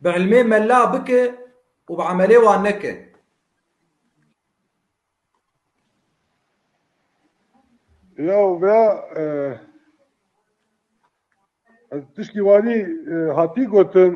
Bi ilmê mela bike û bi emelê wan neke. Ya bira ez tiştî wanî hatî gotin.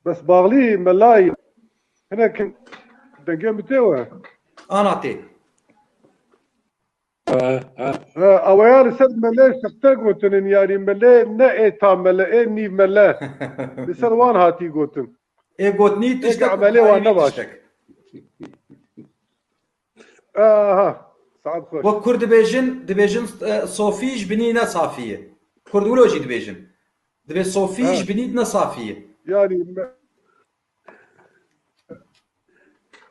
Bes Baxlî melayî hinek dengê min tê we. Ana tê. Awaya li ser mele sexte gotinin yarî mele ne ê ta mele ê nî mele li ser wan hatî gotin. Ê gotnî tiştek û karî nî tiştek. Aha. Saat xweş. Wek Kurd dibêjin, dibêjin e, sofî ji binî ne safî ye. Kurd wilo jî dibêjin. Dibê sofî ji binî ne safî ye. Yani me-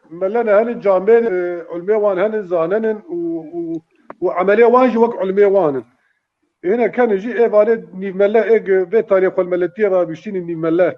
melene henin camên e, ulmê wan henin zanenin û û û emelê wan jî wek ulmê wan in. Hêne kenin jî ê vanê nîvmele ê ge vê tarê xwelmeletiyê re aviştînin nîvmele.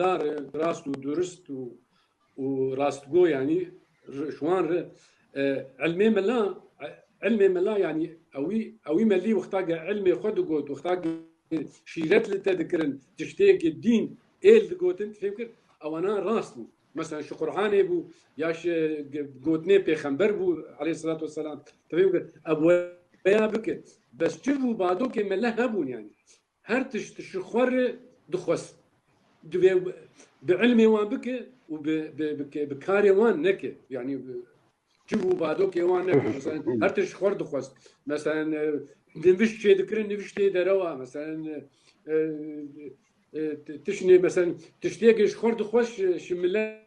La re rast û durist û û rastgo yanî ji wan re ilmê mela ilmê mela yanî ewî ewî me lî wexta ge ilmê xwe digot wexta ge şîret li te dikirin tiştêkê dîn êl digotin tu fêm kir ewana rast bû mesela ji Qur'anê bû ya ji gotinê pêxember bû aleyh selat weselam tu fêm kir ev weya bike bes çi bû badokê mele hebûn yanî Her tişt ji xwe re dixwest. Divê bi ilmê wan bike û bi karê wan neke. Yanî civ û badokê wan neke. Meselen her tişt ji xwe re dixwest. Meselen nivîşt çê dikirin, nivîştê derewa. Meselen tiştê meselen tiştêkê ji xwe re dixwest ji milet.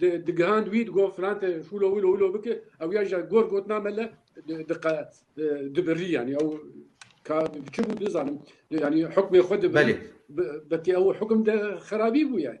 Digihand wî digot filan te hûlo hûlo hûlo bike ew ya jî gor gotina me le dibirî yanî ew ka çi bû nizanim yanî hukmê xwe dibirî belê belkî ew hukm de xerabî bû yanî.